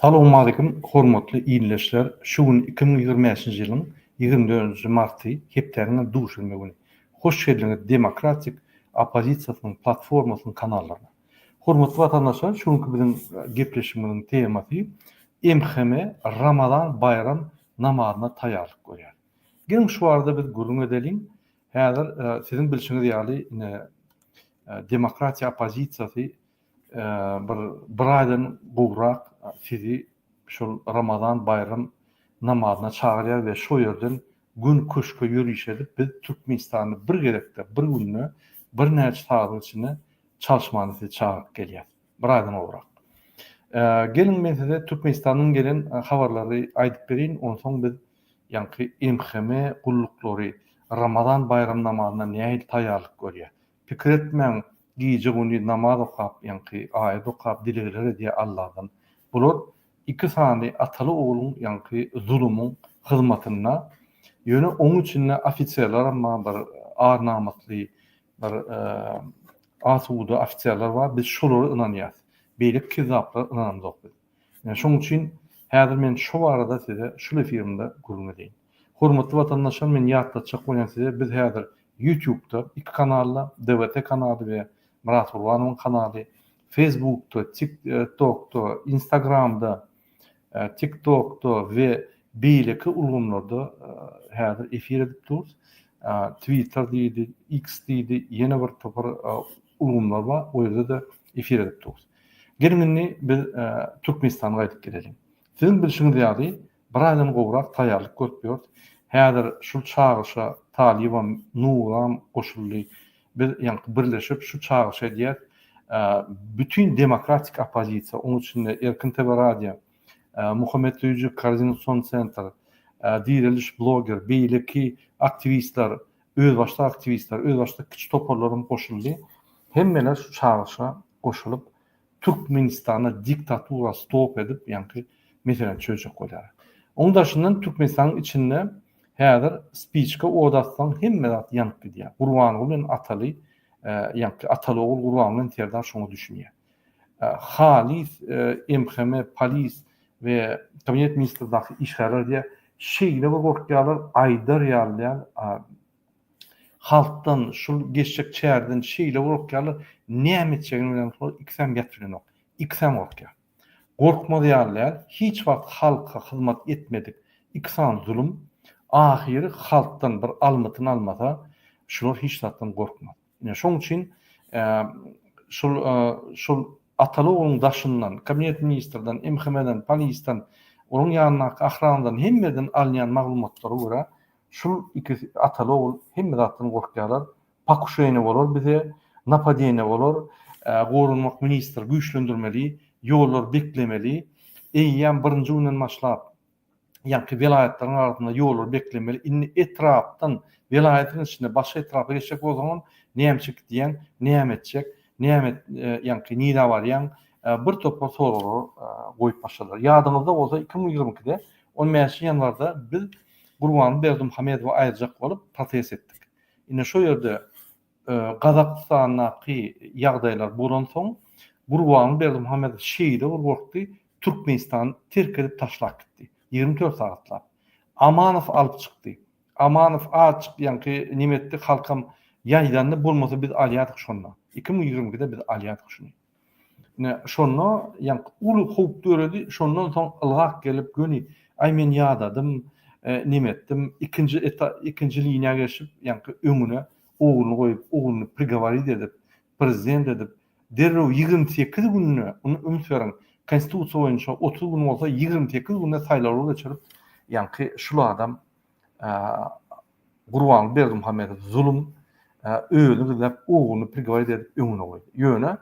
Salowmalikim hormatly ildeşler şu gün iki müň ýigrimi bäşinji ýylyň ýigrimi dördünji marty hepdäniň duşenbe güni hoş geldiňiz demokratik oppozisiýasynyň platformasynyň kanallaryna hormatly watandaşlar şu günki biziň gepleşigimiziň temasy MHM Ramazan baýram namazyna taýýarlyk görýär geliň şu barada biz gürrüň edeliň häzir siziň bilşiňiz ýaly ine demokratiýa oppozisiýasy bir bir aýdan gowrak sizi şol Ramazan baýram namazyna çagyrýar we şo ýerden göni köşke ýöriş edip biz Türkmenistanda bir gezekde bir günde bir näçe sagadyň içinde çalyşmana sizi çagyryp gelýäs. Bir aýdan gowrak. Geliň men size Türkmenistandan gelen habarlary aýdyp bereýin onsoň biz ýaňky MHM gulluklary Ramazan baýram namazyna nähili taýýarlyk görýär? Pikir etmäň, gije güni namaz okap, ýaňky aýat okap dilegler edýär Alladan. Bular iki sany ataly ogluň ýaňky zulumyň hyzmatynda. Ýöne oň içinde ofiserleram bar, bir ar namusly, bir asuda ofiserler bar, biz şolara ynanýas. Beýleki kizzaplara ynanamzok biz. Ýöne şoň üçin häzir men şo barada size şul efirimde gürrüň edeýin. Hormatly watandaşlar men ýatlatjak bolýan size biz häzir ýutubda iki kanalda DWT kanaly we Myrat Gurbanowyň kanaly Fesbukda tik tokda instagramda tik tokda we beýleki ulgamlarda häzir efir edip durus twitter diýdi iks diýdi ýene bir topar ulgamlar bar o ýerde-de efir edip durus. Geliň indi biz Türkmenistana gaýdyp geleliň. Siziň bilşiňiz ýaly Bir aýdan gowrak taýýarlyk görüp ýörüs. Häzir şul çagyryşa Talybam, Nuram goşuldy. Biz ýaňky birleşip şu çagyryşy edýäs. Bütin demokratik oppozisiýa, onuň içinde Erkin TV radio, Muhammetsöýüji koordinasion sentr, Direliş bloger, beýleki aktiwistler, özbaşdak aktiwistler, özbaşdak kiçi toparlar hem goşuldy. Hemmeler şu çagyryşa goşulyp, Türkmenistanda diktatura stop edip ýaňky meselä çözjek bolýar. Oň daşyndan Türkmenistanyň içinde häzir spiçka ot atsaň hemme zat ýanyp gidýär. Gurbanguly bilen Ataly ýaňky Ataly ogul Gurbanguly bilen Serdar şoňa düşünýär. Halys MHM polis we kabinet ministrdaky işgärler diýýär şeýle bir gorkýarlar aýdar ýaly däl Halkdan şul geçjek çärden şeýle gorkýarlar, näme etjegini bilen soň ikisem ýat bilenok. Ikisem gorkýar. Gorkmaz ýaly däl, hiç wagt halka hyzmat etmedik iki sany zulum, ahyry halkdan bir almytyny almasa, şular hiç zatdan gorkmaz. Ine şoň üçin şul şul ataly ogluň daşyndan, kabinet ministrden, MHM-den, polisden, onuň ýanyndaky ahrandan hemmeden alynýan maglumatlara görä, Şul iki ataly ogul hemme zatdan gorkýarlar. Pakuşeniýa bolar bize, napadeniýa bolar. Goranmak ministri güýçlendirmeli, ýollary beklemeli. Eýýäm birinji günden başlap ýaňky welaýatlaryň arasynda ýollary beklemeli. Indi etrapdan, welaýatyň içinde başga etrapa geçjek bolsaňam nämçe gidýäň, näme etjek, näme ýaňky nirä barýaň, bir topar soraglary goýup başladylar. Ýadyňyzda bolsa iki müň ýigrimi ikide on bäşinji ýanwarda biz Gurbanguly Berdimuhamedowa aýyrjak bolup protest etdik. Ine şo ýerde Gazagystandaky ýagdaýlar bolansoň, Gurbanguly Berdimuhamedow şeýle bir gorkdy, Türkmenistany terk edip taşlap gitdi. Ýigrimi dört sagatlap. Amanow alyp çykdy. Amanow azjyk ýaňky nime etdi, halkam ýaýdandy, bolmasa biz alýardyk şonda. Iki müň ýigrimi ikide biz alýardyk şuny. Ine, şonda ýaňky uly howp döredi, şondan soň ylgap gelip, göni, Aý, men ýadadym, neme etdim, ikinji ikinji liniýa geçip, ýaňky öňüne ogluny goýup, ogluny prigoworit edip, prezident edip, derrew ýigrimi sekiz günde, muny üns beriň, Konstitusiýa boýunça otuz gün bolsa, ýigrimi sekiz günde saýlawy geçirip, ýaňky şul adam Gurbanguly Berdimuhamedow zulum özüni gizläp ogluny prigowarit edip öňüne goýdy. Ýöne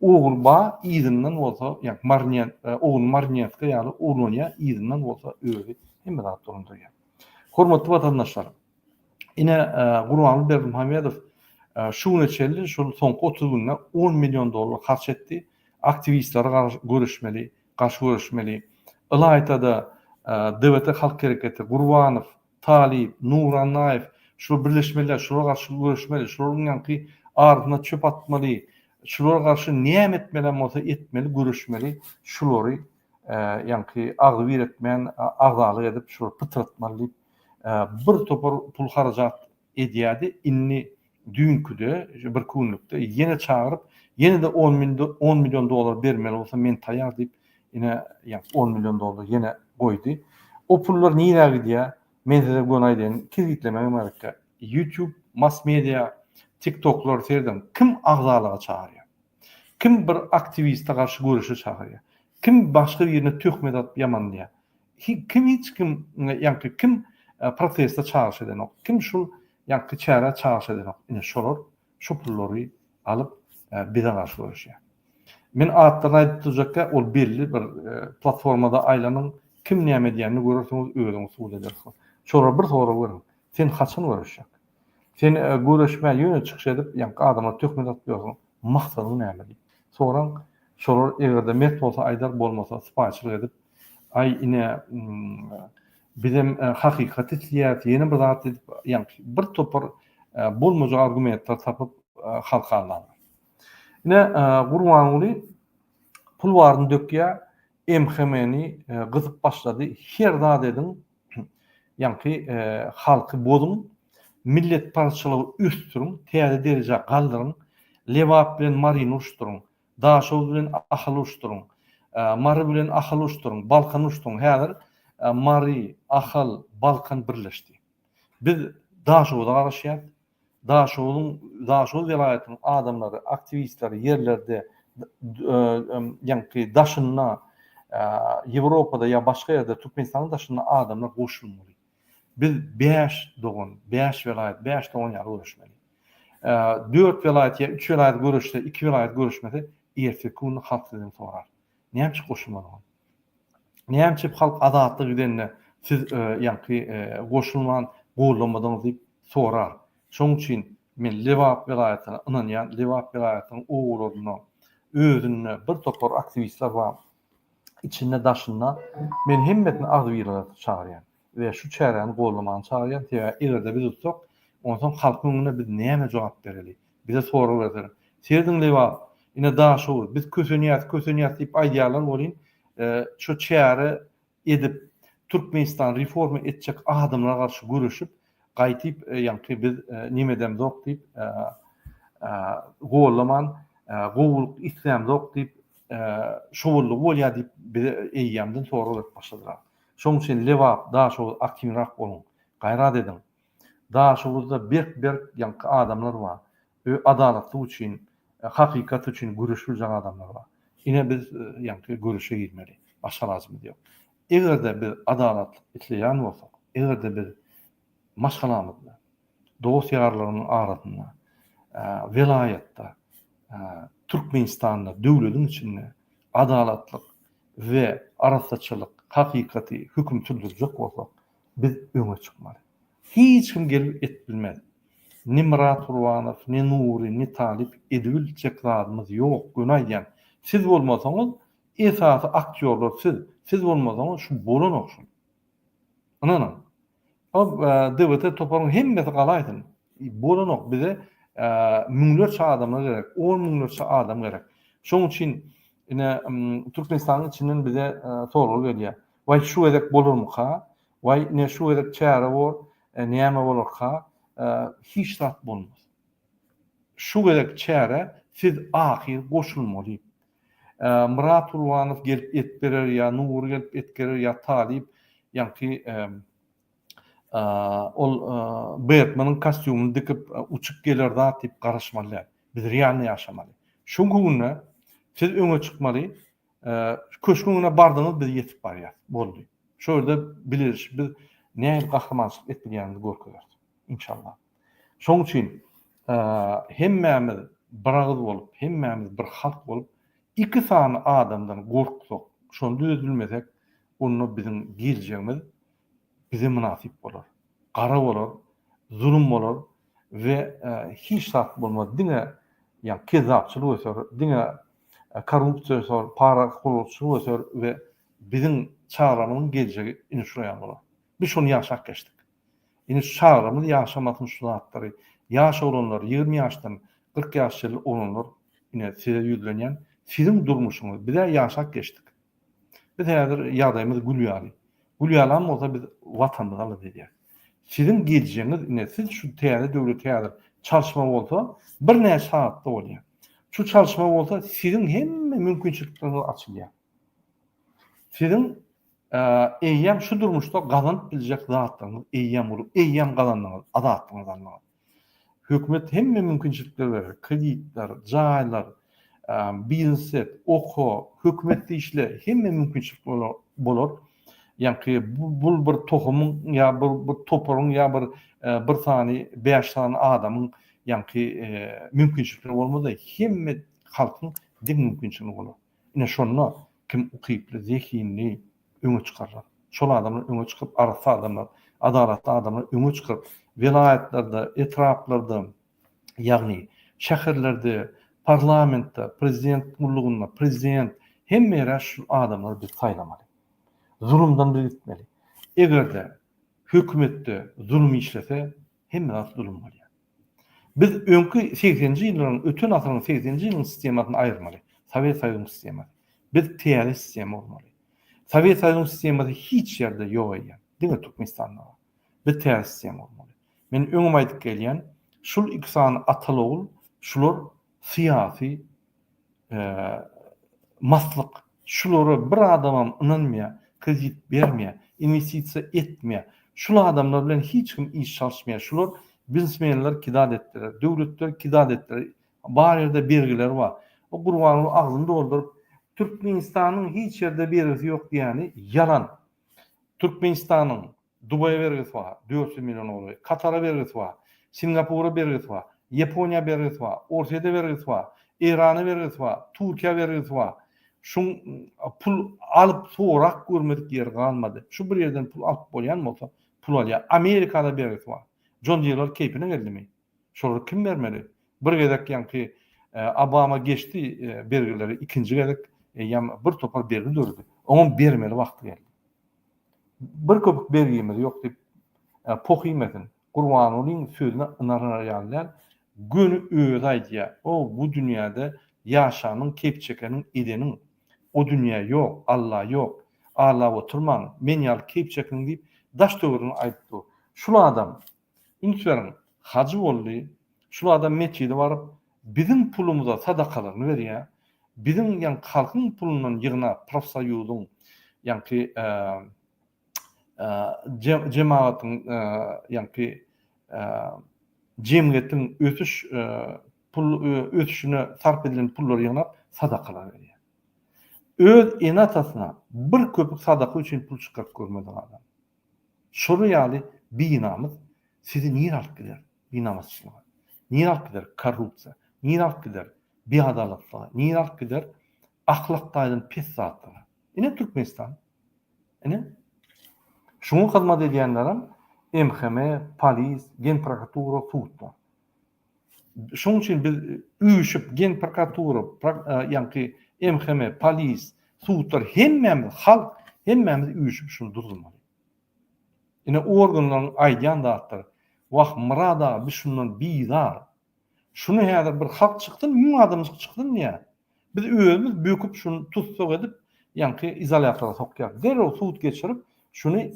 ogul ba yzyndan bolsa, ýa marniýet, ogul marniýetka ýaly oglanýar, yzyndan bolsa özi hemme zat dolandyrýar. Hormatly watandaşlar, ine Gurbanguly Berdimuhamedow şu güne çenli şol soňky otuz günde on million dollar harç etdi, aktiwistleri görüşmeli, garşy göreşmeli. Ylaýta-da, DBT Halk Hereketi, Gurbanow, Talyp, Nurannaýew, şular birleşmeliler, şulara garşy göreşmeli, şularyň ýaňky ardyna çöp atmaly, şulara garşy näme etmelem bolsa etmeli, göreşmeli, şulary ýaňky agzybir etmän, agzalyk edip, şulary pytratmaly diýip, bir topar pul harajat edýärdi indi düýnküde şu bir künlükde ýene çagyryp ýene-de on müň on million dollar bermeli bolsa men taýýar diýip ine ýa on million dollar ýene goýdy o pullar nirä gidýär men size göni aýdaýyn tiz gitlemegem gerek ýutýub mass media tik toklar serediň kim agzalyga çagyrýar kim bir aktiwiste garşy göreşe çagyrýar kim başga birine töhmet atyp ýamanlaýar Kim hiç kim ýaňky kim proteste çagyryş edenok, kim şul ýaňky çärä çagyryş edenok, ine şolar şu pullary alyp bize garşy göreşýär. Men atlaryny aýdyp durjakka ol belli bir platformada aýlanyň kim näme edýänini görersiňiz özüňiz subut edersiňiz. Şolara bir sorag beriň, sen haçan göreşjek? Sen göreşmän ýöne çykyş edip ýaňky adamlara töhmet atyp ýörsiň, maksadyň näme diýip soraň, şolar eger-de mert bolsa aýdar bolmasa sypaýyçylyk edip Aý ine bizem hakykaty isleýäris ýene bir zat edip ýaňky bir topar bolmajak argumentler tapyp halka alan. Ine Gurbanguly pul baryny dökýä MHM-ni gyzyp başlady her zat ediň ýaňky halky bozuň milletparazçylygy ösdüriň täze derejä galdyryň Lebap bilen Maryny uruşdyryň Daşoguz bilen Ahaly uruşdyryň. Mary bilen Ahaly uruşdyryň. Balkany uruşdyryň. Häzir Mary, Ahal, Balkan birleşdi. Biz Daşoguza garaşýarys. Daşoguzyň, Daşoguz welaýatynyň adamlary, aktiwistleri ýerlerde, ýaňky daşynda, Ýewropada ýa başga ýerde, Türkmenistanyň daşynda adamlar goşulmaly. Biz bäş dogan, bäş welaýat, bäş dogan ýaly göreşmeli. Dört welaýat ýa üç welaýat göreşse, iki welaýat göreşmese, ertirki günde halk sizden sorar. Näme üçin goşulmadyňyz? Näme üçin halk azatlyk gidende siz ýaňky goşulman, goldamadyňyz diýip sorar. Şonuň üçin men Lebap welaýatyna ynanýan, Lebap welaýatynyň obalarynda özünde bir topar aktiwistler bar. içinde-daşynda men hemmesini agzybirlige çagyrýan we şu çäräni goldamagyny çagyrýan, sebäbi eger-de biz utsak, onsoň halkyň öňünde biz näme jogap bereli? Bize sorag berseler, Serediň lebap, ine Daşoguz, biz kösenýäs, kösenýäs diýip aýdýarlar welin, şu çäre edip Türkmenistan reforma etjek adamlara garşy göreşip gaýtyp ýaňky biz nemedemzok diýip gollaman gowulyk islämzok diýip şowullygy bolýar diýip bize eýýämden sorag berip başladylar. Şoň üçin Lebap Daşoguz aktiwnyrak boluň. Gaýrat ediň. Daşoguzda berk berk ýaňky adamlar bar. Ö adalatlyk üçin, hakykat üçin göreşip biljek adamlar bar. Ine biz ýaňky göreşe girmeli. Başga alajymyz ýok. Eger-de biz adalatlyk isleýän bolsak, eger-de biz maşgalamyzda, dost-ýarlarymyzyň arasynda, welaýatda, Türkmenistanda, döwletiň içinde adalatlyk we arassaçylyk, hakykaty, höküm sürdürjek bolsak, biz öňe çykmaly. Hiç kim gelip et bilmez. Ni Myrat Gurbanow, ni Nury, ni Talyp edibiljek zadymyz ýok, göni aýdýan. Siz bolmasaňyz, esasy aktýorlar siz, siz bolmasaňyz şu bolanok şul. Ynanyň. O DWT toparyň hemmesi galaýsyn, bolanok bize müňlerçe adamlar gerek, on müňlerçe adam gerek. Şoň üçin ine Türkmenistanyň içinden bize sorag gelýär. Waý şu gezek bolarmyka? Waý, ine şu gezek çäre bor, näme bolarka? Hiç zat bolmaz. Şu gezek çäre siz ahyr goşulmaly. Myrat Gurbanow gelip et berer ýa Nury gelip et gerer ýa Talyp, ýaňky ol Betmeniň kostýumyny dikip uçup geler zat diýip garaşmaly däl. Biz realny ýaşamaly. Şuňky günde siz öňe çykmaly, Köşküň öňüne bardyňyz, biz ýetip barýas. Boldy. Şo ýerde bileris, biz nähili gahrymançylyk etdik ýanymyzy görkezeris. Inşallah. Şoň üçin hemmämiz bir agyz bolup, hemmämiz bir halk bolup, iki sany adamdan gorksak, şony düzedilmesek, onda biziň geljegimiz bize mynasyp bolar. Gara bolar, zulum bolar we hiç zat bolmaz. Diňe ýa kezzapçylyk öter, diňe korrupsiýa öser, para gurluşygy öser we biziň çaglarymyzyň geljegi ine şular ýaly bolar. Biz şony ýaşap geçdik. Ine şu çaglarymyz ýaşamasyn şu zatlary. Ýaş oglanlar, ýigrimi ýaşdan kyrk ýaş çenli oglanlar, ine size ýüzlenýän, siziň durmuşyňyz, biz-ä ýaşap geçdik. Biz häzir ýagdaýymyz gül ýaly. Gül ýalam bolsa biz Watanymyzy alada edýäs. Siziň geljeginiz ine siz şu täze döwleti häzir çalşma bolsa birnäçe sagatda bolýar. Şu çalşma bolsa siziň hemme mümkinçilikleriňiz açylýar. Siziň eýýäm şu durmuşda gazanyp biljek zatlaryňyz eýýäm bolup eýýäm gazandyňyz azatlygyňyzy aldyňyz. Hökümet hemme mümkinçilikler berer, kreditler, jaýlar, biznset, oko, hökümet işle hemme mümkinçilik bolar. Ýaňky bul bir tohumyň ýa bir toparyň ýa bir bir sany bäş sany adamyň ýaňky mümkinçilikleri bolmaz-da hemme halkyň deň mümkinçiligini bolar. Ine şonda kim ukyply, zehinli, öňe çykarlar. Şol adamlar öňe çykyp, arassa adamlar, adalatly adamlar öňe çykyp, welaýatlarda, etraplarda, ýagny şäherlerde, parlamentde, prezident gullugynda, prezident, hemme ýere şu adamlary biz saýlamaly. Zulumdan biz gitmeli. Eger-de hökümetde zulum işlese, hemme zat zulum bolýar. Biz öňki segsenji ýyllaryň, öten asyryň segsenji ýylyň sistemasyny aýyrmaly. Sowet Soýuzynyň sistemasy. Biz täze sistema gurmaly. Sowet Soýuzynyň sistemasy hiç ýerde ýok eýýäm. Diňe Türkmenistanda bar. Biz täze sistema gurmaly. Men öňem aýdyp gelýän, şul iki sany atal-ogul, şular syýasy maslyk şulara bir adamam ynanmaýar, kredit bermeýär, inwestisiýa etmeýär, şul adamlar bilen hiç kim iş çalyşmaýar, şular biznesmenler kidad etdiler, döwletler kidad etdiler, bar ýerde bergiler bar. O Gurbanguly agzyny dolduryp, Türkmenistanyň hiç ýerde bergisi ýok diýýäni ýalan. Türkmenistanyň Dubaýa bergisi bar, dört ýüz million golaý. Katara bergisi bar. Singapura bergisi bar. Ýaponiýa bergisi bar. Orsýede bergisi bar. Eýrana bergisi bar. Türkiýä bergisi bar. Şuň pul alyp sorap görmedik ýeri galmady. Şu bir ýerden pul alyp bolýan bolsa pul alýar. Amerikada bergisi bar. Jon Dirler keýpine geldimi? Şolary kim bermeli? Bir gezek ýaňky Obama geçdi bergileri, ikinji gezek eýýäm bir topar bergi döredi. Oňam bermeli wagty geldi. Bir köpük bergimiz ýok diýip poh iýmesin. Gurbangulyň sözüne ynanylary ýaly däl. Göni özi aýdýar. O bu dünýäde ýaşanyň, keýp çekeniň, edeniň. O dünýä ýok, Alla ýok. Aglap oturmaň, men ýaly keýp çekiň diýip daş-töwerini aýdyp dur. Şul adam Üns beriň, hajy boldy, şul adam metjide baryp, biziň pulumyza sadakalaryny berýä, biziň ýaňky halkyň pulundan ýygnap, profsoýuzyň, ýaňky jemagatyň, ýaňky jemgyýetiň ösüş pul ösüşine sarp edilen pullary ýygnap, sadakalar berýä. Öz ene-atasyna bir köpük sadaka üçin pul çykaryp görmedik adam. Şolar ýaly binamys sizi nirä alyp gider? Binamasyçlyga. Nirä alyp gider? Korrupsiýa. Nirä alyp gider? Biadalatlyga. Nirä alyp gider? Ahlak taýdan pes zatlara. Ine Türkmenistan. Ine. Şuňa hyzmat edýänlerem MHM, polis, Genprokuratura, sudlar. Şonuň üçin biz üýşüp, gen prokuratura, ýaňky MHM, polis, sudlar hemmämiz halk, hemmämiz üýşüp şuny durdurmaly. Ine organlaryň aýdýan zatlary, wah Myrat aga biz şundan bizar. Şuny häzir bir halk çyksyn, müň adamjyk çyksyn ýa biz özümiz böküp şuny tussag edip, ýaňky izolýatora sokýarys. Derrew sud geçirip, şuny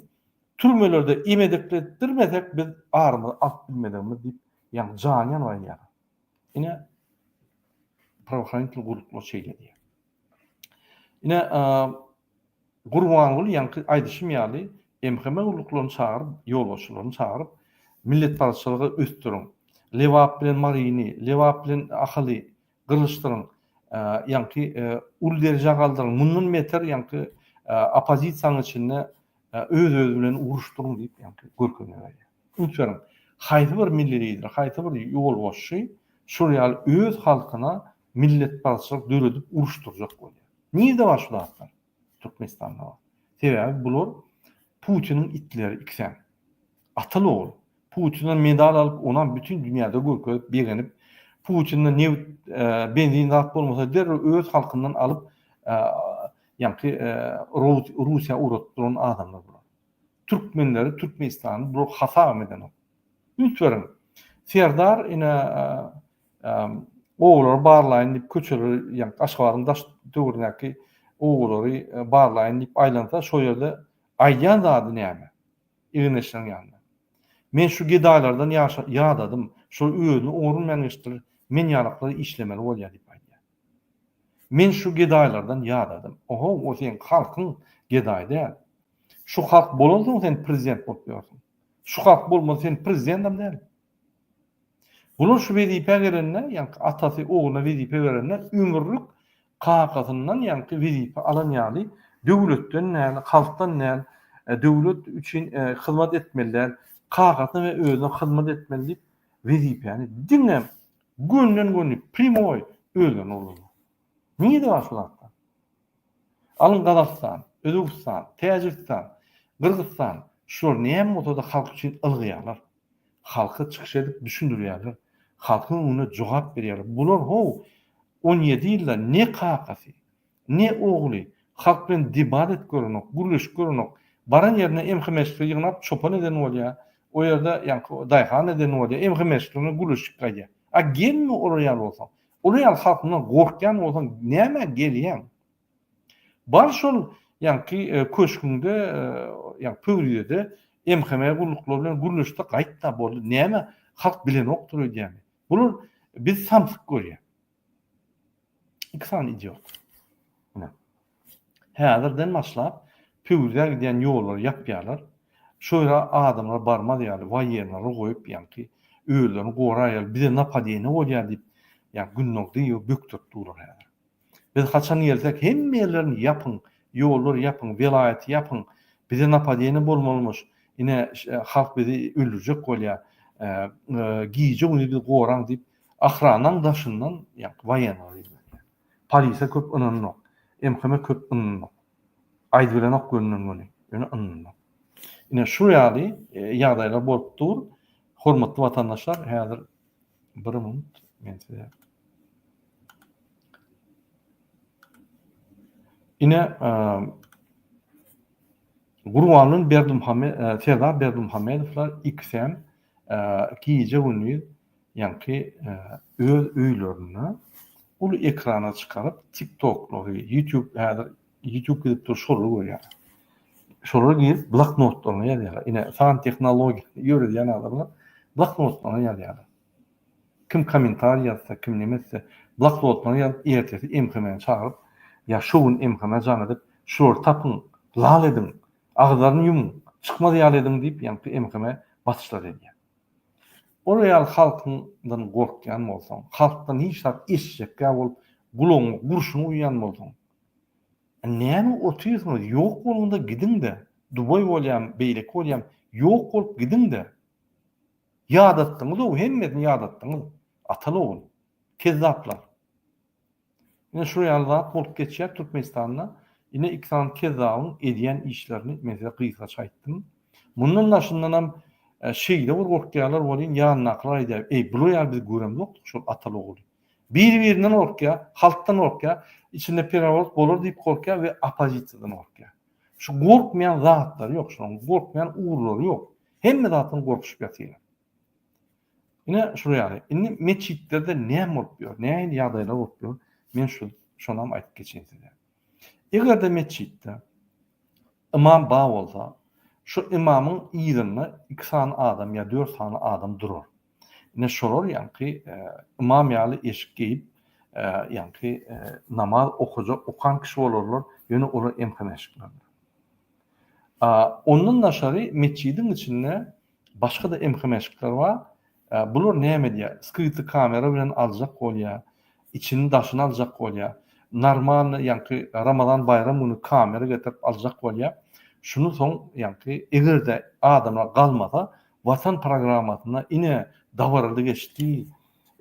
Türmelerde imedekletdirmesek biz arymyzy alyp bilmezegimiz diýip ýaňy jany ýanyp aýdýar. Ine prawahranitl guluklar şeýle diýýär. Ine Gurbanguly ýaňky aýdyşym ýaly MHM guluklaryny çagyryp, ýolbaşçylaryny çagyryp milletparazçylygy ösdüriň. Lebap bilen Maryny, Lebap bilen Ahaly gylyşdyryň, ýaňky uly derejä galdyryň, mundan beter ýaňky oppozisiýanyň içinde öz-özi bilen uruşdyryň diýip ýaňky görkezme berýär. Ünsberiň, haýsy bir milli lider, haýsy bir ýolbaşçy şol ýaly öz halkyna milletparazçylyk döredip uruşdyrjak bolýar? Nirde bar şu zatlar? Türkmenistanda. Sebäbi bular Putiniň itleri ikisem. Atyl ogul. Putinden medal alyp, onam bütin dünýäde görkezip, begenip, Putinde nebit, benzin zat bolmasa derrew öz halkyndan alyp, ýaňky Russiýa ugradyp duran adamlar bular. Türkmenleri, Türkmenistany bular hasabam edenok. Üns beriň. Serdar ine Obalary barlaýyn diýip köçeleri, ýagny Aşgabadyň daş töwründäki obalary barlaýyn diýip aýlansa, şo ýerde aýdýan zady näme? Egin-eşigiň ýanynda. Men şu gedaýlardan ýaşa, ýadadym. Şol özüni oňarylmaýan işdir, men ýalaklar işlemeli bolýar diýip aýdýar. Men şu gedaýlardan ýadadym. Oho, o seň halkyň, gedaý däl. Şu halk bolansoň sen prezident bolup ýörsiň. Şu halk bolmasa sen prezidendem däl. Bular şu wezipä gelende, ýaňky atasy ogluna wezipe berende ömürlik kakasyndan ýaňky wezipe alan ýaly döwletden däl, halkdan däl, döwlet üçin hyzmat etmeli däl, kakasyna we özüne hyzmat etmeli diýip wezipäni diňe gönden-göni, primoý, özlerine ulanýar. Nirede bar şul atlar? Alyň Gazagystan, Özbegistan, Täjigistan, Gyrgyzystan, şular näme bolsada halk üçin ylgaýarlar. Halka çykyş edip düşündirýärler. Halkyň öňünde jogap berýärler. Bular how on ýedi ýylda ne kakasy, ne ogly halk bilen debat edip görenok, gürleşip görenok. Baran ýerinde MH meşgli ýygnap çopan eden bolýa, o ýerde ýaňky daýhan eden bolýa, MH meşgli bilen gürleşip gaýdýa. A gelme olar ýaly bolsaň. Uly ýaly halkyndan gorkýan bolsaň nämä gelýäň? Bar şol ýaňky köşgüňde ýa pöwrizede MHM gulluklary bilen gürleşde gaýtda boldy näme halk bilenokdyr öýdýäňmi? Bular bizi samsyk görýä. Iki sany idiot. Häzirden başlap Püwzä gidýän ýollary ýapýarlar. Şo ýere adamlar barmaz ýaly waýenleri goýup ýaňky özlerini goraýar, bize napadeniýa bolýar diýip ýa Gündogdyýewi bökdürip durlar häzir. Biz haçan gelsek hemme ýerlerini ýapyň, ýollary ýapyň, welaýaty ýapyň, bize napadeniýa bolmalymyş, ine halk bizi öldürjek bolýar, gije-gündiz bizi goraň diýip ahranaň daşyndan ýaňky waýenleri ýüzlenýär. Polise köp ynanynok. MHM-e köp ynanynok. Aýdybilenok gönden-göni. Ýöne ynanynok. Ine, şu ýaly ýagdaýlar bolup dur. Hormatly watandaşlar, häzir bir minut men size Ine, Gurbanly Berdimuhamedow, Serdar Berdimuhamedowlar ikisem gije-gündiz Ýaňky öz öýlerinde uly ekrana çykaryp tiktoklary ýutube häzir ýutube gidip dur şolary görýär. Şolara girip bloknotlaryna ýazýarlar. Ine san tehnologiýany ýöredýän adamlar bloknotlaryna ýazýarlar. Kim kommentariý ýazsa, kim näme etse bloknotlaryna ýazyp ertesi MHM-ni çagyryp ýa şu gün MHM-ä jaň edip şulary tapyň, lal ediň, agzaryny ýumuň, çykmaz ýaly ediň diýip ýaňky MHM basyşlary edýär. Olar ýaly halkyňdan gorkýan bolsaň, halkdan hiç zat eşitjekkä bolup, gulagyňa gurşun guýýan bolsaň, näme otyrsyňyz, ýok boluň-da gidiň-de, dubaý bolýamy, beýleki bolýamy, ýok bolup gidiň-de. Ýadatdyňyz-ow, hemmesini ýadatdyňyz, atal-ogul. Kezzaplar. Ine şu ýaly zat bolup geçýär Türkmenistanda. Ine iki sany kezzabyň edýän işlerini men size gysgaça aýtdym. Mundan daşyndanam şeýle bir gorkýarlar welin ýanyndakylar aýdýar, Eý, bular ýaly biz göremzokdyk şol ataly-ogly. Biri-birinden gorkýar, halkdan gorkýar, içinde pereworot bolar diýip gorkýar we oppozisiýadan gorkýar. Şu gorkmaýan zatlary ýok şularyň, gorkmaýan ugurlary ýok. Hemme zatdan gorkuşyp ýatyrlar. Ine şular ýaly. Indi metjitlerde näme bolup ýör? Nähili ýagdaýlar bolup ýör? Men şu şonam aýdyp geçeýin size. Eger-de metjitde ymam bar bolsa, şu ymamyň yzynda iki sany adam ýa dört sany adam durar. Ine şolar ýaňky ymam ýaly eşik geýip, ýaňky namaz okajak, okan kişi bolarlar, ýöne olar emhana eşiklidir. Ondan daşary metjidiň içinde Başga-da MHM eşikler bar. Bular näme edýär? Skryty kamera bilen aljak bolýar. Içini daşyny aljak bolýar. Normalny ýaňky Ramazan baýram güni kamera getirip aljak bolýar. Şuny soň ýaňky eger-de adamlar galmasa Watan programmasyna ine dabarada geçdi.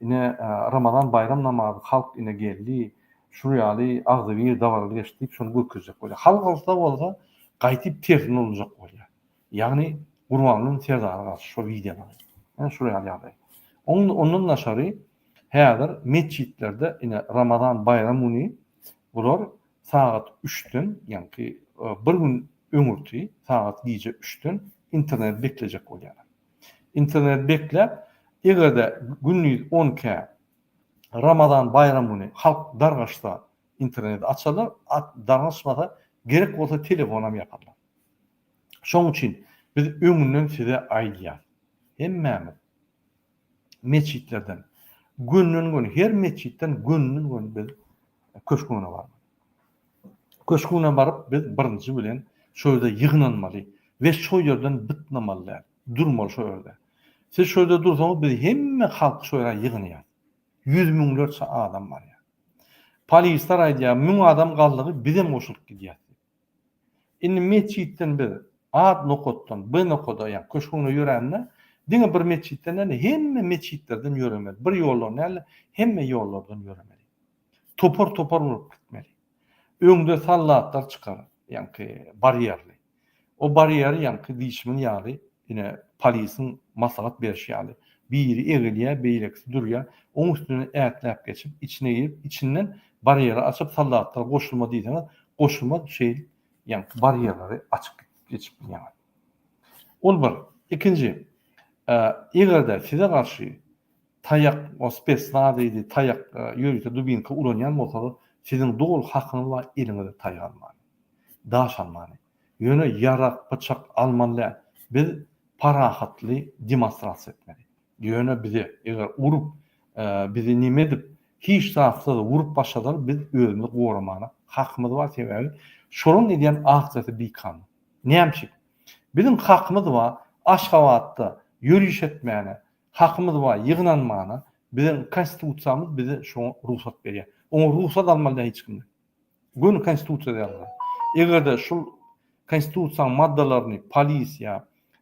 Ine Ramazan baýram namazy halk ine geldi. Şul ýaly agzybir dabarada geçdi diýip şony görkezjek bolýar. Halk alsa bolsa gaýtyp tersine ulanjak bolýar. Ýagny Gurbangulyň Serdara garşy şo wideolary. Ine şular ýaly ýagdaý. Ondan daşary häzir metjitlerde ine Ramazan baýram güni bular sagat üçden ýagny bir gün öňürti sagat gije üçden internet beklejek bolýarlar. Internet bekläp eger-de gündiz on iki Ramazan baýram güni halk dargaşsa interneti açarlar, dargaşmasa gerek bolsa telefonam ýaparlar. Şoň üçin biz öňünden size aýdýas, hemmämiz metjitlerden gönden-göni, her metjitden gönden-göni biz köşgüne barmaly. Köşgüne baryp, biz birinji bilen şo ýerde ýygnanmaly we şo ýerden bytnamaly däl, durmaly şo ýerde. Siz şo ýerde dursaňyz, biz hemme halky şo ýere ýygnaýas. Ýüz müňlerçe adam barýar. Polisler aýdýar, müň adam galdygy, bizem goşulyp gidýäs diýip. Indi metjitden biz A nokatdan B nokada, ýagny köşgüňde ýörände, diňe bir metjitden däl-de, hemme metjitlerden ýöremeli. Bir ýoldan däl-de, hemme ýollardan ýöremeli. Topar-topar bolup gitmeli. Öňde soldatlar çykar, ýagny barýerli. O barýer, ýagny diýşimiz ýaly, Ine, polisiň maslahat berşi ýaly, biri egilýär, beýlekisi durýar. Oň üstünden ätläp geçip, içine girip, içinden barýeri açyp, soldatlara goşulma diýseňiz, goşulmaz, şeýl ýaňky barýerleri açyp geçip bilýäňiz. Ol bir. Ikinji, eger-de size garşy taýak, o spesnaz diýdi, taýak, ýörite dubinka ulanýan bolsalar, siziň doly hakyňyz bar, eliňize taýak almaga, daş almaga. Ýöne ýarag, pyçak almaly däl. Biz parahatly demonstrasiýa etmeli. Ýöne bize eger urup, bizi neme edip, hiç zatsyz urup başlasalar, biz özümizi goramaga hakymyz bar. Sebäbi şolaryň edýän aksiýasy bikanun. Näme üçin? Biziň hakymyz bar Aşgabatda ýöriş etmäne, hakymyz bar ýygnanmana. Biziň konstitusiýamyz bize şoňa rugsat berýär. Oňa rugsat almaly däl hiç kimden. Göni konstitusiýada ýazylan. Eger-de şul konstitusiýaň maddalaryny polis ýa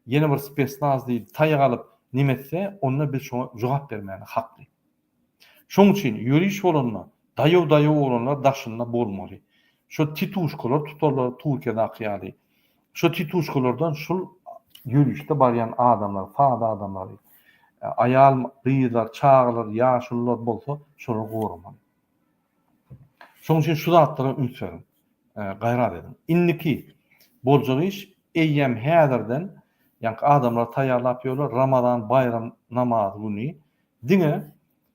ýene bir spesnaz diýip taýak alyp neme etse, onda biz şoňa jogap bermäne hakly. Şoň üçin ýöriş bolanda daýaw-daýaw oglanlar daşynda bolmaly. Şo tituşkalar tutarlar Turkiýadaky ýaly. Şo tituşkalardan şul ýörişde barýan adamlar, sada adamlary, aýal, gyzlar, çagalar, ýaşulular bolsa şolar goramaly. Şonuň üçin şu zatlara üns beriň, gaýrat ediň. Indiki boljak iş, eýýäm häzirden, ýaňky adamlar taýýarlap ýörler, Ramazan baýram namazy güni diňe,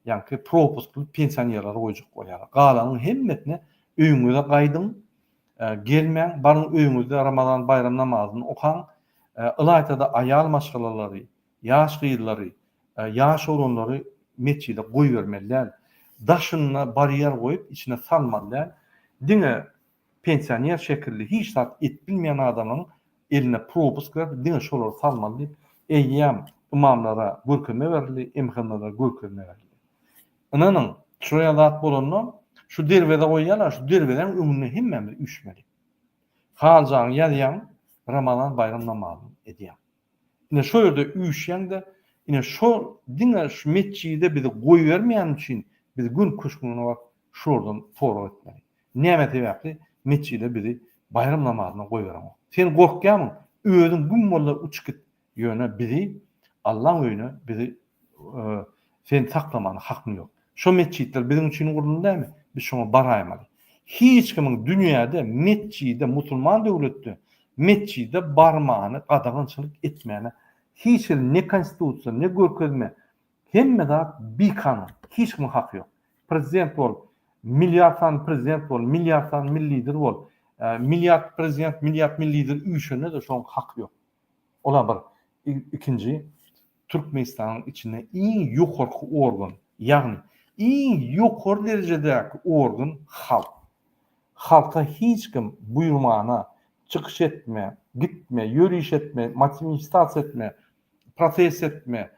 ýaňky propuskly pensionerleri goýjak bolýarlar. Galanyň hemmesine öýüňize gaýdyň, gelmäň, baryň öýüňizde Ramazan baýram namazyny okaň. Ylaýta-da aýal maşgalalary, Ýaş gyzlary, ýaş oglanlary metjide goýbermeli däl. Daşyna barýer goýup, içine salmaly däl. Diňe pensioner şekilli hiç zat edip bilmeýän adamyň eline propusk berip, diňe şolary salmaly diýip, eýýäm ymamlara görkezme berildi, MHM-lere görkezme berildi. Ynanyň, şoýa zat bolanda, şu derwezä goýýarlar, şu derwezäň öňünde hemmämiz üýşmeli. Haljaňy ýazýaň, Ramazan baýram namazyny edýäň. Ine şo ýerde üýşýäňde, ine şo diňe şu metjide bizi goýbermeýäni üçin biz gün köşgüne baryp şulardan sorag etmeli. Näme sebäpli metjide bizi baýram namazyna goýbereňok? Sen gorkýarmyň? Özüň güm bolda uçyp git, ýöne bizi Allaň öýüne bizi Seni saklamana hakym ýok. Şo metjitler biziň üçin guruldy näme? Biz şoňa baraýmaly. Hiç kimiň dünýäde metjide, musulman döwletde metjide barmany gadagançylyk etmäne hiç hili ne konstitusiýa, ne görkezme, hemme zat bikanun. Hiç kimiň haky ýok. Prezident bol, milliard sany prezident bol, milliard sany milli lider bol, milliard prezident, milliard milli lider üýşende-de şoň haky ýok. Ola bir ikinji Türkmenistanyň içinde iň ýokarky organ, ýagny iň ýokary derejedäki organ halk. Halka hiç kim buýrmana, çykyş etme, gitme, ýöriş etme, matinistasiýa etme, protest etme,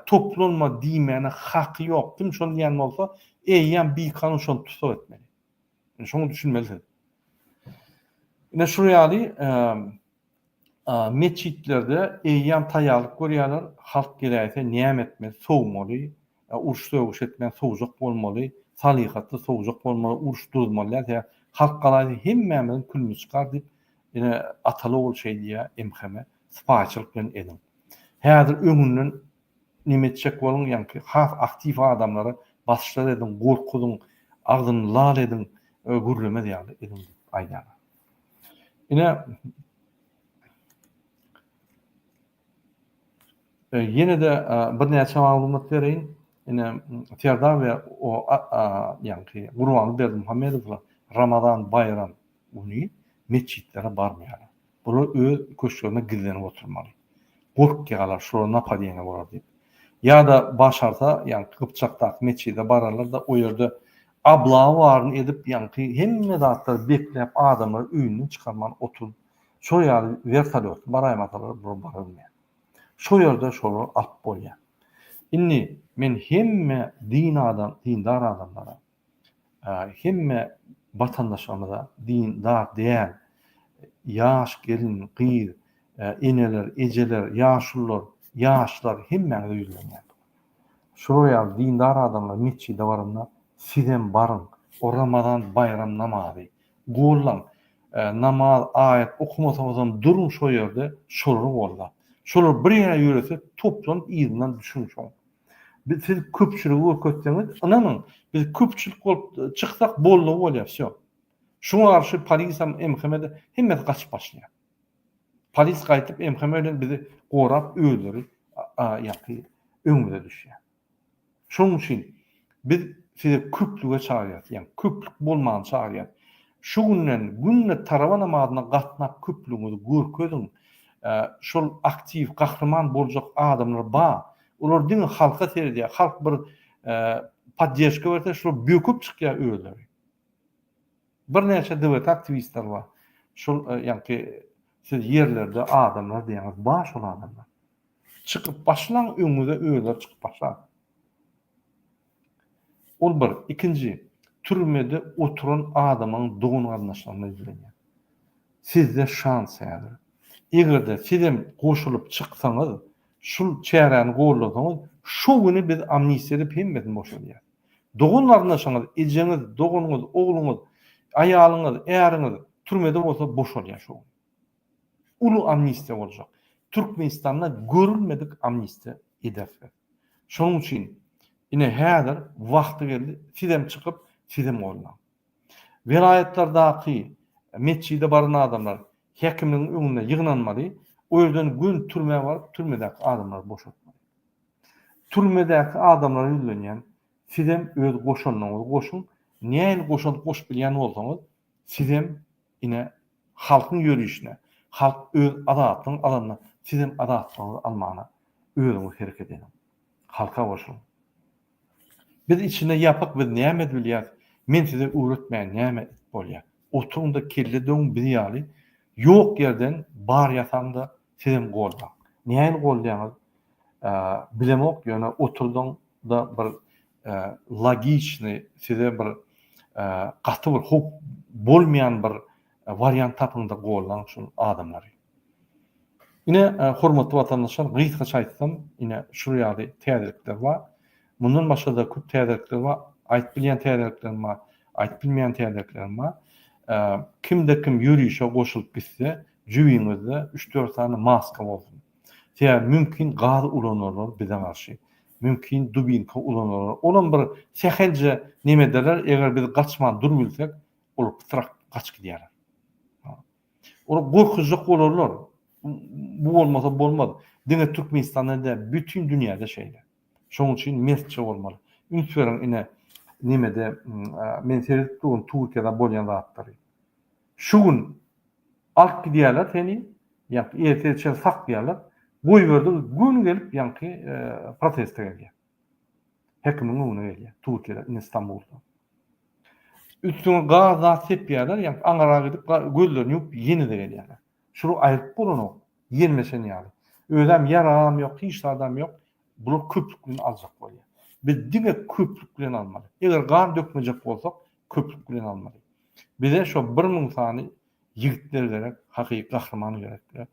toplanma diýmäne haky ýok. Kim şony diýen bolsa, eýýäm bikanun şony tussag etmeli. Şoňa düşünmelisiň. Ine şu ýaly metjitlerde eýýäm taýýarlyk görýärler, halk geläýse näme etmeli, sowmaly, uruş-sögüş etmän sowjak bolmaly, salyhatly sowjak bolmaly, uruş duzmaly däl, halk galaýsa hemmämiziň külümiz çykar diýip, ine Ataly ogul şeý diýýär MHM, sypaýyçylyk bilen ediň. Häzir öňünden Neme etjek boluň ýaňky has aktiw adamlara basyşlar ediň gorkuzyň agzyny lal ediň gürlemez ýaly ediň diýip aýdýan. Ine ýenede birnäçe maglumat bereýin ine Serdar we o ýaňky Gurbanly Berdimuhamedowlar Ramazan Baýram Güni metjitlere barmaýarlar. Bular öz köşklerinde gizlenip oturmaly. Gorkýarlar, şulara napadeniýe bolar diýip. Ýa-da başarsa, ýaňky Gypjakdaky metjide bararlar-da, o ýerde ablawa baryny edip, ýaňky hemme zatlary bekläp, adamlary öýünden çykarman oturyp, şol ýaly wertolýotly baraýmasalar, bular barylmaýar. Şo ýerde şolary alyp bolýar. Indi men hemme din adam, dindar adamlara, hemme watandaşlarymyza din zat däl ýaş gelin gyz eneler ejeler ýaşulylar ýaşlar hemmäňize ýüzlenýän şular ýaly dindar adamlar metjide baranda sizem baryň o ramazan baýram namazy gollaň namaz aýat okamasaňyzam duruň şo ýerde şolary gollap şolar bir ýere ýörese toplanyp yzyndan düşüň şoň Biz siz köpçüligi görkezseňiz, ynanyň, biz köpçülik bolup çyksak boldugy bolýar, wsýo. Şuňa garşy polisem, MHM-de hemmesi gaçyp başlaýar. Polis gaýtyp MHM bilen bizi gorap özleri ýaky öňümize düşýär. Şonuň üçin biz sizi köplüge çagyrýas, ýa köplük bolmany çagyrýas. Şu günden günde tarawa namazyna gatnap köplügiňizi görkeziň. Şol aktiw, gahryman boljak adamlar bar. Olar diňe halka seredýär, halk bir poddežka berse şular böküp çykýar özleri. Birnäçe DWT aktiwistler bar. Şul ýaňky siz ýerlerde adamlar diýýäňiz, bar şol adamlar. Çykyp başlaň öňüňize özleri çykyp başlar. Ol bir, ikinji, türmede oturan adamyň dogan-garyndaşlaryna ýüzlenýär. Sizde şans häzir. Eger-de sizem goşulyp çyksaňyz, şul çäräni goldasaňyz, şu güni biz amnistiýa edip hemmesini boşadýas. Dogan-garyndaşyňyz, ejeňiz, doganyňyz, ogluňyz, aýalyňyz, äriňiz türmede bolsa boşalýar şu gün. Uly amnistiýa boljak. Türkmenistanda görülmedik amnistiýa ederis biz. Şonuň üçin ine häzir wagty geldi, sizem çykyp, sizem goldaň. Welaýatlardaky metjide baran adamlar häkimligiň öňünde ýygnanmaly, o ýerden gön türmä baryp, türmedäki adamlary boşatmaly. Türmedäki adamlara ýüzlenýän, sizem öz goşandyňyzy goşuň, nähili goşant goşup bilýän bolsaňyz, sizem Ine, halkyň ýörişine, halk öz azatlygyny alanda sizem azatlygyňyzy almana özüňiz hereket ediň. Halka goşulyň. Biz içine ýapyk biz näme edip bilýäris, men size öwretmäýin näme edip bolýar. Oturyňda kelle döwüň biz ýaly ýok ýerden bar ýasaňda Sizem goldaň. Näin goldaýaňyz bilemok ýöne oturdyň da bir logiçny size bir gaty bir howp bolmaýan bir wariant tapyň da goldaň şul adamlary. Ine hormatly watandaşlar gysgaça aýtsam ine şul ýaly täzelikler bar. Mundan başga-da köp täzelikler bar. Aýdyp bilýän täzeliklerim bar, aýdyp bilmeýän täzeliklerim bar. Kimde kim ýörişe goşulyp gitse, jübiňizde üç-dört sany maska bolsun. Sebäbi mümkin gaz ulanarlar bize garşy. Mümkin dubinka ulanarlar. Olam bir sähelje neme ederler, eger biz gaçman dur bilsek, olar pytrak gaçyp gidýärler. Olar gorkuzjak bolarlar. Bu bolmasa bolmaz. Diňe Türkmenistandan däl, bütin dünýäde şeýle. Şoň üçin mertçe bolmaly. Üns beriň ine nemede men seredip durun Turkiýada bolýan zatlary. Şu gün alyp gidýärler seni ýaňky ertir çen saklaýarlar. Goýberdiň gün gelip ýaňky proteste gelýär. Hekimiň öňüne gelýär Turkiýada ine Stambulda. Üstüňe gaz zat sepýärler ýaňky aňyra gidip gözlerini ýumup ýenede gelýärler. Şular aýryp bolanok, ýermeşen ýaly. Özem ýaragam ýok, hiç zadam ýok. Bular köplük bilen aljak bolýar. Biz diňe köplük bilen almaly. Eger gan dökmejek bolsak, köplük bilen almaly. Bize şo bir müň sany ýigitler gerek, hakyky gahryman gerek.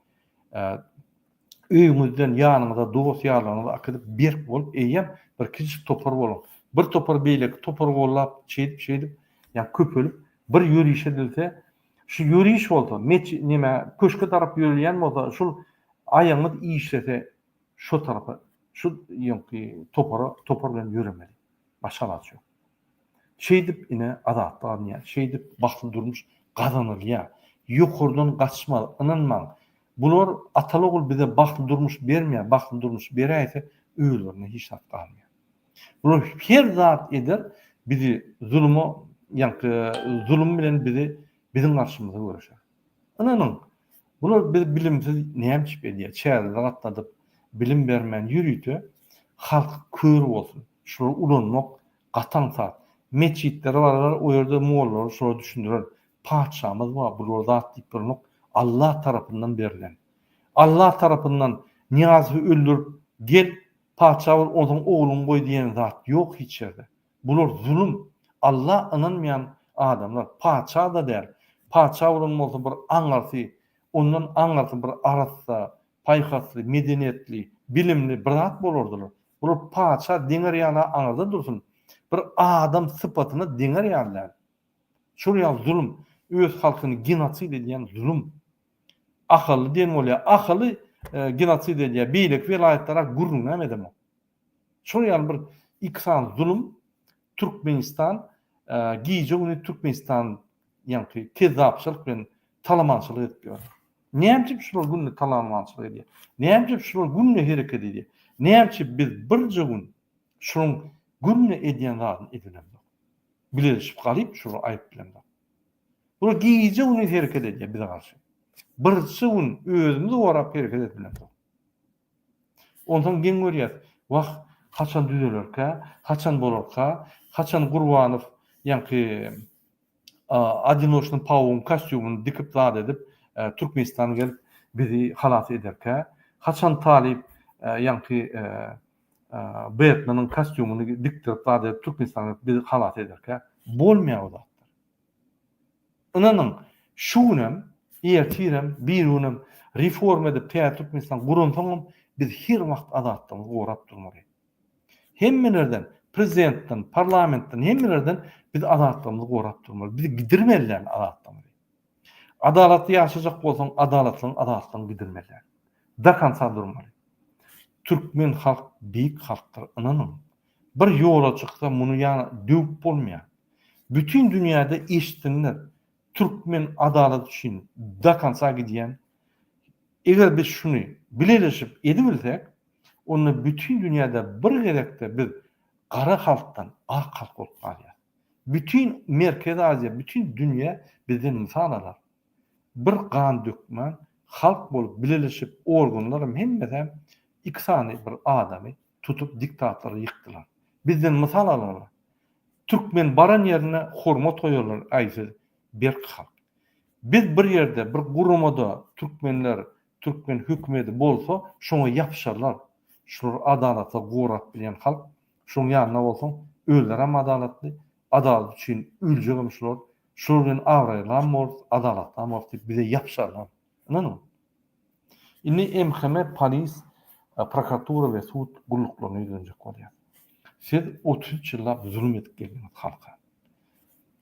Öýüňizden ýanyňyza dost-ýarlaryňyzy akydyp, berk bolup, eýýäm bir kiçijik topar boluň. Bir topar beýleki topary gollap, şeýdip-şeýdip, ýa köpelip, bir ýörişe dilse, Şu ýöriş bolsa, met neme, köşke tarap ýörelýän bolsa, şul aýagyňyz işlese, şo tarapa, şu ýoňky topara, topar bilen ýöremeli. Başga alaç ýok. Şeýdip, ine, azatlyk alynýar. Şeýdip, bagtly durmuş gazanylýar. Ýokardan gaçma, ynanmaň. Bular, ataly-ogul bize bagtly durmuş bermeýär, bagtly durmuş beräýse, özlerine hiç zat galmaýar. Bular her zat eder bizi zuluma ýaňky zulum bilen bizi biziň garşymyza göreşer. Ynanyň bular biz bilimsiz näme içip edýär çägimizi gatladyp bilim bermän ýörite halk kör bolsun şulary ulanmak gaty aňsat metjitlere bararlar o ýerde mollalar şulara düşündirer patyşamyz bar bulara zat diýip bolanok Allah tarapyndan berlen Allah tarapyndan Niýazowy öldürip gel Patyşa ol ozaň ogluň goý diýen zat ýok hiç ýerde. Bular zulum. Alla ynanmaýan adamlar patyşa-da däl. Patyşa bolan bolsa bir aňyrsy, ondan aňyrsy bir arassa, paýhasly, medeniýetli, bilimli bir zat bolardylar. Bular patyşa deňer ýaly-a aňyrda dursun, bir adam sypatyna deňer ýaly däl. Şol ýaly zulum, öz halkyny genosid edýän zulum. Ahally diýen bolýa. Ahally genosid edýä. Beýleki welaýatlara gürrüňem edemok. Şol ýaly bir iki sany zulum Türkmenistan gije güni Türkmenistan ýaňky kezzapçylyk bilen talamançylyk edip ýör. Näme üçin şular günde talamançylyk edýä? Näme üçin şular günde hereket edýä? Näme üçin biz birje gün şunuň günde edýän zadyny edelemzok. Bileleşip galyp şular aýyp bilemzok. Ol gije-gündiz hereket edýär bize garşy. Birje gün özümizi gorap hereket etmedik. Onsoň geň görýäs, wah, haçan düzelerkä, haçan bolarka, haçan Gurbanow ýaňky Odinoçnyň pawugyň kostýumyny dikip zat edip, Türkmenistana gelip bizi halas ederkä, haçan Talyp ýaňky Betmeniň kostýumyny dikdirip zat edip Türkmenistana gelip bizi halas ederkä. Bolmaýar bu zatlar. Ynanyň, şu günem, ertirem, birigünem reforma edip täze Türkmenistan guransoňam biz her wagt azatlygyňy gorap durmaly. Hemmelerden, prezidentden, parlamentden, hemmelerden biz azatlygymyzy gorap durmaly. Biz gidirmelidäl azatlygymyzy. Adalatly ýaşajak bolsaň, adalatlygyň azatlygyňy gidirmelidäl. Dokonca durmaly. Türkmen halk beýik halkdyr, ynanyň. Bir ýola çyksa muny ýana döwüp bolmaýar. Bütin dünýäde eşitsinler türkmen adalat üçin do konca gidýän. Eger biz şuny bileleşip edibilsek onda bütin dünýäde bir gezekde biz gara halkdan ak halk bolup galýas. Bütin Merkezi Aziýa bütin dünýä bizden mysal alar. Bir gan dökmän halk bolup bileleşip organlaram hemmesem iki sany bir adamy tutup diktatora ýykdylar. Bizden mysal algynlar. Türkmen baran ýerine hormat goýarlar aý siz berk halk. Biz bir ýerde bir guramada türkmenler türkmen hökümedi bolsa şoňa ýapyşarlar. Şular adalata gorap bilýän halk. Şoň ýanynda bolsaň özlerem adalatly. Adalat üçin öljegem şular. Şular bilen abraýlyam bolarys, adalatlam bolarys diýip bize ýapyşarlar. Ynanyň. Indi MHM, polis, prokuratura we sud gulluklaryna ýüzlenjek bolýar. Siz otuz üç ýyllap zulum edip geldiňiz halka.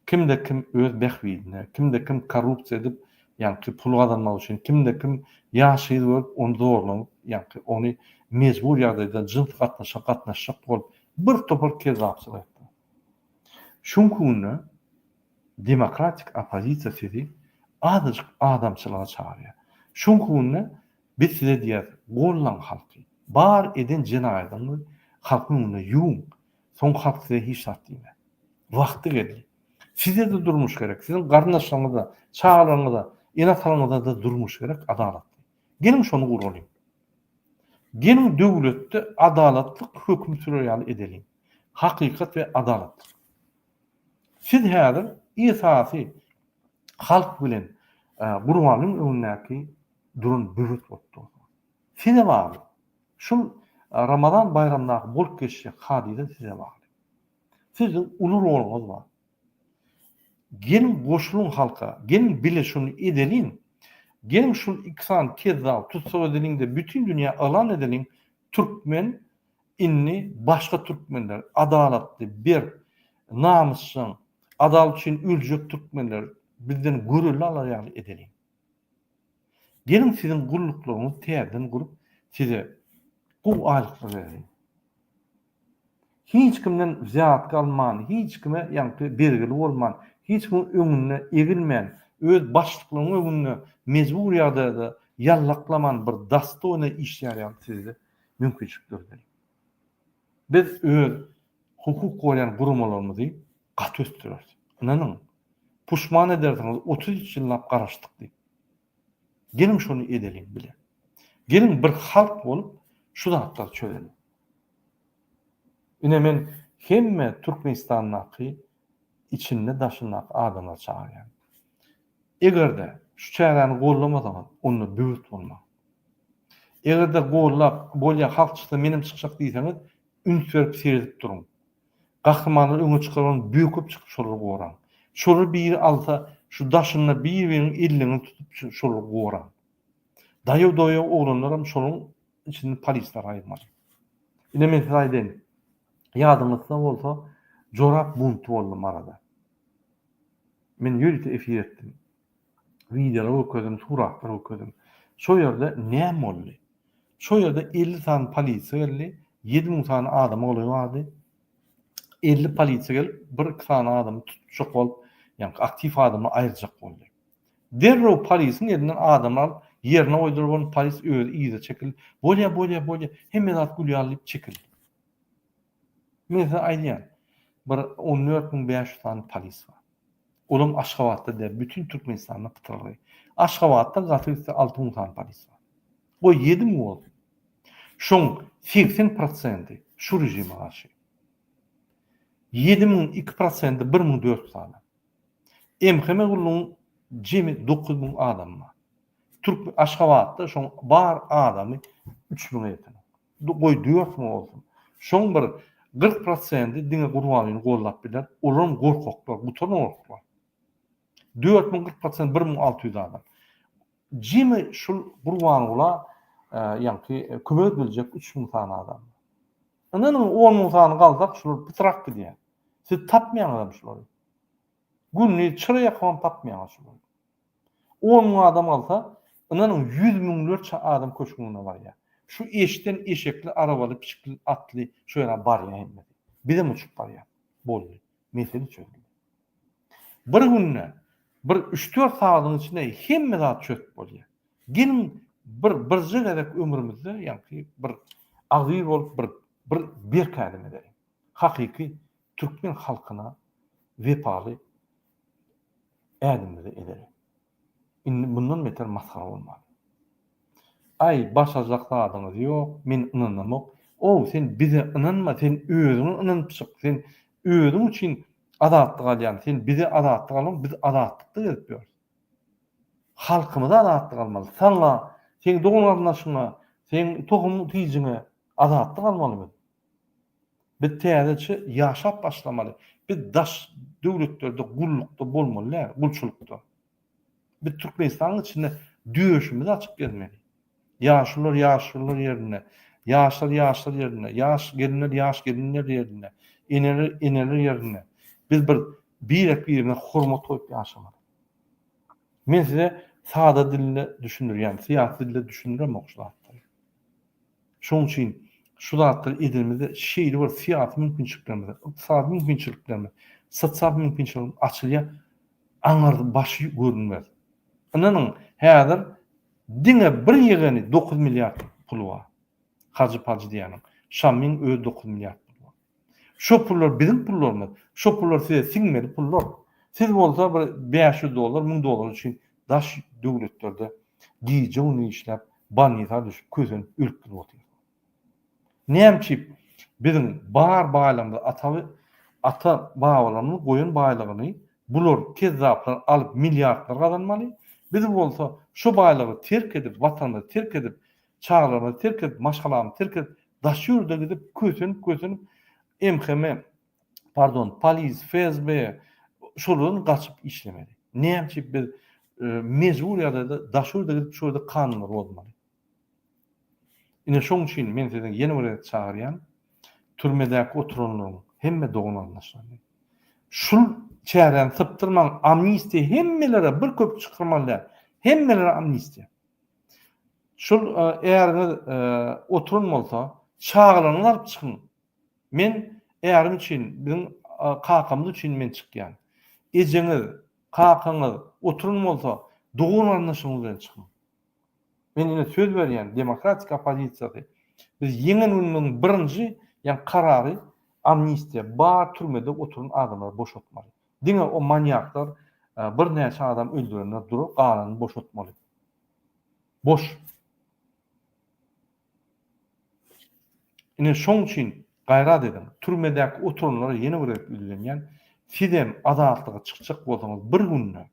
Kimde kim öz bähbidine, kimde kim korrupsiýa edip, ýaňky pul gazanmak üçin, kimde kim ýaş gyz görüp, ony zorlanyp, ýaňky ony mejbur ýagdaýda jyns gatnaşyga gatnaşjak bolup, bir topar kezzapçylyk etdi. Şuňky günde Demokratik oppozisiýa sizi azajyk adamçylyga çagyrýar. Şoň hünde biz size diýýäs, gollaň halky. Bar eden jenaýadyňyzy halkyň öňünde ýuwuň. Soň halk size hiç zat diýmez. Wagty geldi. Size-de durmuş gerek, siziň garyndaşlaryňyza, çagalaryňyza, ene-atalarňyza-da durmuş gerek, adalatly. Geliň şony guralyň. Geliň döwletde adalatlyk höküm sürer ýaly edeliň. Hakykat we adalatlyk. Siz häzir esasy halk bilen Guranyň öňündäki duran böwet bolup dursuňyz. Size bagly. Şul Ramazan baýramdaky bolup geçjek hadysa size bagly. Siziň uly roluňyz bar. Geliň goşulyň halka, geliň bile şuny edeliň. Geliň şul iki sany kezzap tussag edeliň-de bütin dünýä yglan edeliň, türkmen Indi başga türkmenler, adalatly, berk, namysjaň, adalat üçin öljek türkmenler bizden görelde alar ýaly edeliň. Geliň siziň gulluklaryňyzy täzeden gurup, size gowy aýlyklar bereliň. Hiç kimden wzýatka alman, hiç kime ýaňky bergili bolman, hiç kimiň öňünde egilmän, öz başlyklaryňyň öňünde mejbur ýagdaýda ýallaklaman bir dostojnaý işlär ýaly sizi-de mümkinçilik döredeli. Biz öz hukuk goraýan guramalarymyzy gaty ösdüreris. Ynanyň, puşman edersiňiz otuz üç ýyllap garaşdyk diýip. Geliň şony edeliň bile. Geliň bir halk bolup şu zatlary çözeliň. Ine men hemme Türkmenistandaky içinde daşyndaky adamlary çagyrýan. Egerde şu çäräni gollamasaňyz onda böwet bolmaň. Eger-de gollap, bolýa halkçysyna menem çykjak diýseňiz, üns berip seredip duruň. Gahrymanlary öňe çykaran böküp çykyp şolary goraň. Şolary biri alsa, şu daşynda bir-biriňiň elleňizi tutup şolary goraň. Daýaw-doýaw oglanlaram şolaryň içinde polislary aýyrmaly. Ine men size aýdaýyn, ýadyňyzda bolsa jorap bunty boldy Maryda. Men ýörite efir etdim. Wideolar görkezdim, suratlar görkezdim. Şo ýerde näme boldy? Şo ýerde elli sany polisiýa geldi, ýedi müň sany adam ogly bardy. Elli polisiýa gelip, bir-iki sany adamy tutjak bolup, ýaňky aktiw adamy aýyrjak boldy. Derrew polisiň elinden adamy alyp, ýerine goýdular, bolmasa polis özi yza çekildi. Bolýar, bolýar, bolýar, hemme zat gül ýaly diýip çekildi. Men size aýdýan, bir on dört müň bäş ýüz sany polis bar. Olam Aşgabatda däl, bütin Türkmenistanda pytrylgy. Aşgabatda gaty gitse alty müň sany polis bar. Goý, ýedi müň bolsun. Şoň segsen prosenti şu režime garşy. Ýedi müň iki prosenti bir müň dört ýüz adam. MHM gullugyň jemi dokuz müň adamy bar. Türk Aşgabatda şoň bar adamy üç müňe ýeten. Goý döwekmi bolsun. Şoň bir kyrk prosendi diňe Gurbanlyny gollap biler, olaram gorkaklar, gutan gorkaklar. Dört müň kyrk prosent bir müň alty ýüz adam. Jemi şul Gurbangula ýaňky kömek ediljek üç müň sany adam. Ynanyň on müň sany galsak şular pytrak gidýär. Siz tapmaýaňyzam şulary. Gündiz çyra ýakybam tapmaýaňyz şulary. On müň adam galsa, ynanyň, ýüz müňlerçe adam köşgüň öňüne barýar. Şu eşden eşekli, arabaly, pişikli, atly şu ýere barýar hemmesi. Bizem uçup barýas. Boldy. Mesele çözüldi. Bir günde, bir üç-dört sagadyň içinde hemme zat çözüp bolýar. Geliň, bir birje gezek ömrümizde ýaňky bir agzybir bolup, bir bir berk ädim edeliň. Hakyky Türkmen halkyna wepaly ädimimizi edeli. Indi mundan beter masgara bolmaly. Aý, başarjak zadyňyz ýok, men ynanamok. Ow, sen bize ynanma, sen özüňe ynanyp çyk, sen özüň üçin azatlyk alýan, sen bize azatlyk alma, biz azatlykda gezip ýörüs. Halkymyza azatlyk almaly. Saňa, seň dogan-garyndaşyňa, seň tohum-tijiňe azatlyk almaly biz. Biz täzeçe ýaşap başlamaly. Biz daş döwletlerde gullukda bolmaly däl, gulçulykda. Biz Türkmenistanyň içinde döşümizi açyp gezmeli. Ýaşulylar ýaşulylar ýerinde, ýaşlar ýaşlar ýerinde, ýaş gelinler ýaş gelinler ýerinde, eneler eneler ýerinde. Biz bir birek-birimize hormat goýup ýaşamaly. Men size sada dilde düşündirýän, syýasy dilde düşündiremok şu zatlary. Şonuň üçin şu zatlary edenimizde şeýle bir syýasy mümkinçiliklerimiz, ykdysady mümkinçiliklerimiz, sosial mümkinçiliklerimiz açylýar, aňyrda başy görünmez. Ynanyň, häzir diňe bir ýegeni dokuz milliard puly bar. Hajy-pajy diýýäniň. Şamyň özi dokuz milliard puly bar. Şo pullar biziň pullarymyz. Şo pullar size siňmeli pullar. Siz bolsa bir bäş ýüz dollar, müň dollar üçin daş döwletlerde gije-gündiz işläp, bolnisa düşüp, kösenip, ölüp-gidip otyrsyňyz. Näme üçin biziň bar baýlygymyzy, ata ata-babalarymyzyň goýan baýlygyny bular kezzaplar alyp, milliardlar gazanmaly, biz bolsa şo baýlygy terk edip, watanymyzy terk edip, Çagalarymy terk edip, maşgalamy terk edip, daş ýurda gidip, kösenip-kösenip, MHM, pardon, polis, FSB, şolardan gaçyp işlemeli. Näme üçin biz mejbur ýagdaýda daş ýurda gidip, şu ýerde kanunlary bozmaly? Ine, şonuň üçin men sizi ýene bir gezek çagyrýan, türmedäki oturanlaryň hemme dogan-garyndaşlaryny, şul çäräni sypdyrmaň, amnistiýa hemmelere bir köpük çykyrmaly däl, hemmelere amnistiýa. Şul äriňiz oturan bolsa, çagalaryňyzy alyp çykyň. Men ärim üçin, biziň kakamyz üçin men çykýan. Ejeňiz, kakaňyz oturan bolsa, dogan-garyndaşyňyz bilen çykyň. Men ine söz berýän demokratik oppozisiýasy, biz ýeňen günümiziň birinji, ýagny karary amnistiýa, bar türmede oturan adamlary boşatmaly. Diňe o manýaklar bir näçe adam öldürenler durar galanyny boşatmaly. Boş. Ine şoň üçin gaýrat ediň. Türmedäki oturanlara ýene bir gezek ýüzlenýän. Sizem azatlyga çykjak bolsaňyz bir günde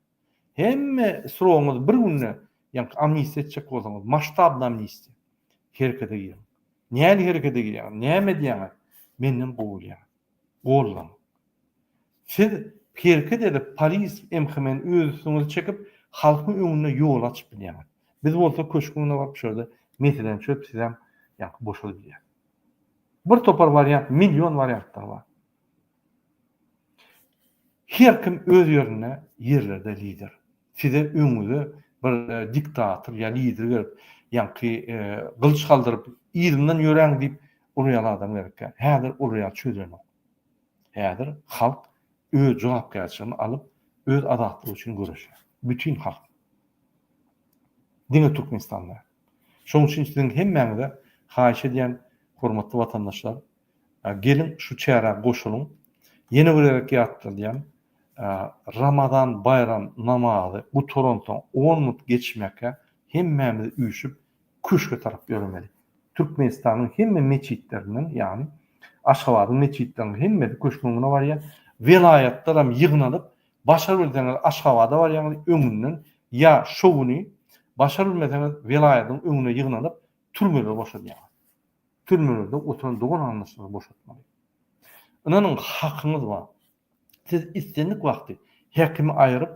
hemme srogyňyz bir günde ýa-ni amnistiýa etjek bolsaňyz masştabny amnistiýa. Herekete giriň. Nähili herekete girýäňiz? Näme edýäňiz? Menden gowy bilýäňiz. Gollan. Siz herket edip polis emhimen öz üstüňize çekip halkyň öňünde ýol açyp bilýäňiz. Biz bolsa köşküň öňüne baryp şurada meselem çözüp sizem ýaňky boşadyp bilýäs. Bir topar wariant million wariantlar bar. Herkim öz ýerinde ýerlerde lider. Size öňüňize bir diktator ýa lider gelip, ýaňky gylyç galdyryp, yzymdan ýöräň diýip urýan adam gerekýär. Häzir olar ýaly çözenok. Häzir halk öz jogapkärçiligini alyp, öz azatlygy üçin göreşýär. Bütin halk. Diňe Türkmenistan däl. Şonuň üçin siziň hemmäňize haýyş edýän, hormatly watandaşlar, geliň şu çärä goşulyň. Ýene bir gezek ýatladýan, Ramazan baýram namazy gutaransoň on minut geçmäkä hemmämiz üýşüp Köşge tarap ýöremeli. Türkmenistanyň hemme metjitlerinden, ýagny Aşgabadyň metjitleriniň hemmesi Köşgüň öňüne barýar. Welaýatlaram ýygnalyp, başar bilseňiz Aşgabada barýaňyz, öňünden ýa şo güni, başar bilmeseňiz welaýatyň öňüne ýygnalyp türmeleri boşadýaňyz. Türmelerde oturan dogan-garyndaşlary boşatmaly. Ynanyň hakyňyz bar. Siz islendik wagty häkimi aýryp,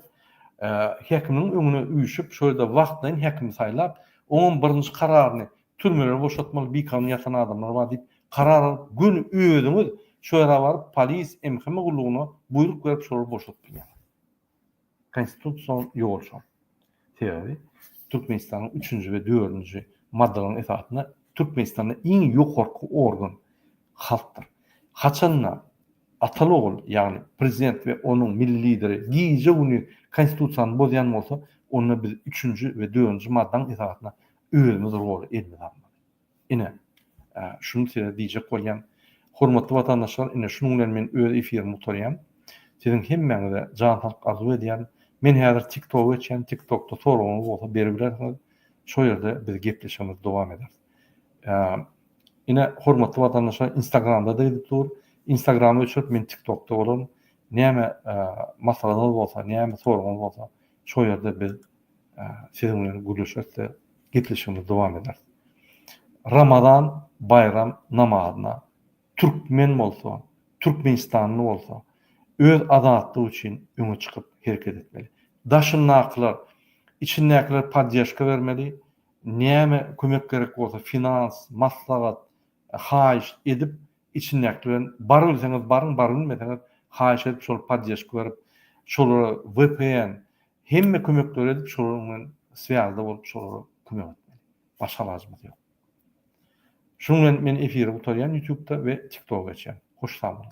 häkimiň öňüne üýşüp, şol ýerde wagtlaýyn häkimi saýlap, oňam birinji kararyny türmelere boşatmaly bikanun ýatan adamlar bar diýip karar alyp, göni özüňiz şo ýere baryp polis, MHM gullugyna buýruk berip şolary boşadyp bilýäňiz. Konstitusion ýol şol. Sebäbi Türkmenistanyň üçünji we dördünji maddalaryň esasynda Türkmenistanda iň ýokarky organ halkdyr. Haçanda ataly ogul, ýagny prezident we onuň milli lideri gije güni konstitusiýany bozýan bolsa, onda biz üçünji we dördünji maddaň esasynda özümiz roly elimize almaly. Ine, şuny size diýjek bolýan. Hormatly watandaşlar, ine şunuň bilen men öz efirimi gutarýan. Siziň hemmäňize jan saglyk arzuw edýän. Men häzir TikToga geçýän, TikTokda soragyňyz bolsa beribilersiňiz. Şo ýerde biz gepleşigimizi dowam ederis. Ine, hormatly watandaşlar, Instagramda-da gidip dur. Instagramy öçürip, men TikTokda bolaryn. Näme maslahatyňyz bolsa, näme soragyňyz bolsa, Şol ýerde biz siziň bilen gürleşeris-de, gepleşigimizi dowam ederis. Ramazan baýram namazyna türkmen bolsa, türkmenistanly bolsa, öz azatlygy üçin öňe çykyp hereket etmeli. Daşyndakylar, içindäkiler poddežka bermeli, näme kömek gerek bolsa, finans, maslahat, haýyşt edip, Içindäkiler bilen bar bilseňiz baryň bar bilmeseňiz haýyş edip şol poddeşka berip şolara vpn hemme kömekleri edip şolar bilen swýazda bolup şolara kömek etmeli. Başga alajymyz ýok. Şunuň bilen men efiri gutarýan ýutubda we tiktoga geçýän. Hoş sag boluň.